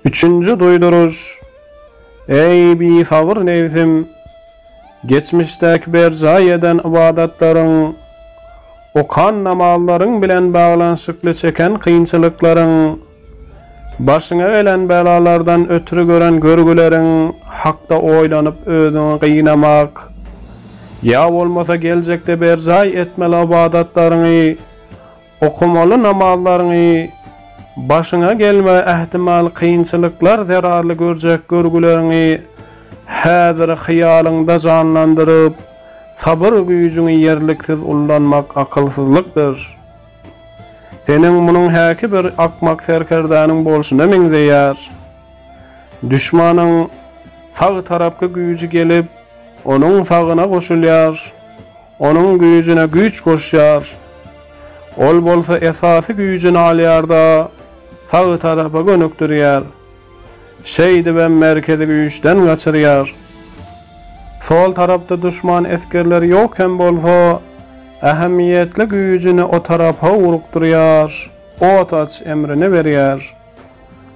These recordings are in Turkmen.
Üçünji duýduryş, Eý, bisabyr nebsim! Geçmişdäki berjaý eden ybadatlaryň, okan namazlaryň bilen baglanyşykly çeken kynçylyklaryň, başyňa gelen belalardan ötri gören görgüleriň hakda oýlanyp özüňi gynamak, ýa bolmasa geljekde berjaý etmeli ybadatlaryňy, Okamaly namazlaryňy, başyňa gelmegi ähtimal kynçylyklar zerarly görjek görgüleriňi häzir hyýalyňda janlandyryp, sabyr güýjüňi ýerliksiz ullanmak akylsyzlykdyr. Seniň munyň häki bir akmak serkerdäniň bolşuna meňzeýär. Duşmanyň sag tarapky güýji gelip, onuň sagyna goşulýar. Onuň güýjüne güýç goşýar. Ol bolsa esasy güýjüni alýar-da, sag tarapa gönükdirýär. Şeýdibem merkezi güýçden gaçyrýar. Sol tarapda duşman esgerleri ýok hem bolsa, ähmiýetli güýjüni o tarapa ugrukdyrýar. Ot aç emrini berýär.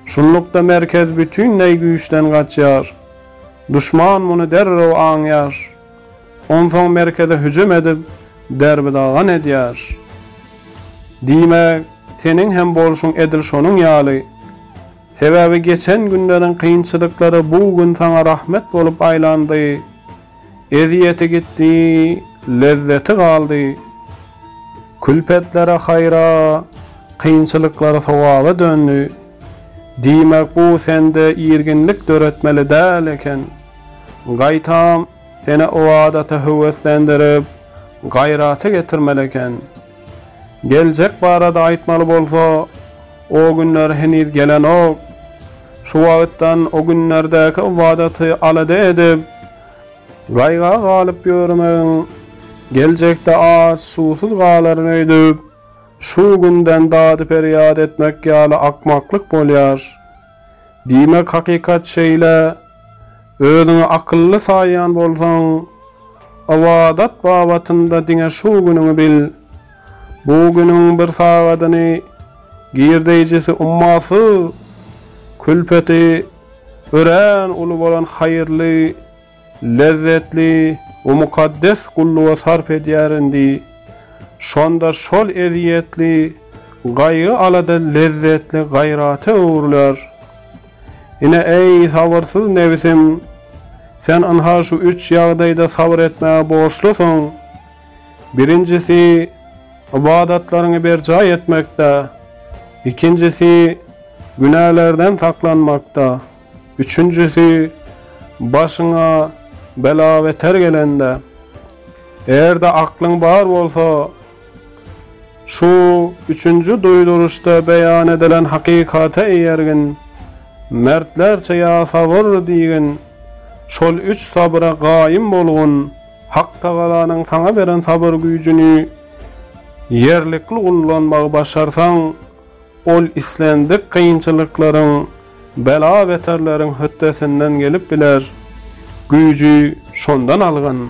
Şunlukda merkez bütinleý güýçden gaçýar. Duşman muny derrew aňýar. Onsoň merkeze hüjüm edip, derbi-dagyn edýär. Diýmek, seniň hem bolşuň edil şonuň ýaly. Sebäbi geçen günleriň kynçylyklary bu gün saňa rahmet bolup aýlandy. Ezýeti gitdi, lezzeti galdy. Külpetlere haýra, kynçylyklary sogaba döndi. Diýmek, bu sende irginlik döretmeli däl eken. Gaýtam, seni o adata höweslendirip, gaýrata getirmeli eken. Geljek barada aýtmaly bolsa, o günler heniz gelenok. Şu wagtdan o günlerdäki ybadaty alada edip, gaýga galyp ýörmegiň, geljekde aç, suwsuz galaryn öýdüp, şu günden dady-perýat etmek ýaly akmaklyk bolýar. Diýmek, hakykat şeýle, özüňi akylly saýýan bolsaň, ybadat babatynda diňe şu günüňi bil. Bu günüň bir sagadyny girdeýjisi ummasyz külpeti örän uly bolan haýyrly, Lezzetli u mukaddes gulluga sarp edýär indi. Şonda şol ezýetli gaýgy-alada lezzetli gaýrata öwrüler. Ine, eý, sabyrsyz nebisim, sen ynha şu üç ýagdaýda sabyr etmäge borçlusyň. Birinjisi, ybadatlaryňy berjaý etmekde. Ikinjisi, günälerden saklanmakda. Üçünjisi, başyňa bela-beter gelende, eger-de aklyň bar bolsa, şu üçünji duýduryşda beýan edilen hakykata eýergin, mertlerçe ýa sabyr diýgin, şol üç sabyra gaýym bolgun, Haktagalanyň saňa beren sabyr güýjüni ýerlikli ullanmagy başarsaň, Ol islendik kynçylyklaryň, bela-beterleriň hötdesinden gelip biler. Güýji şondan algyn.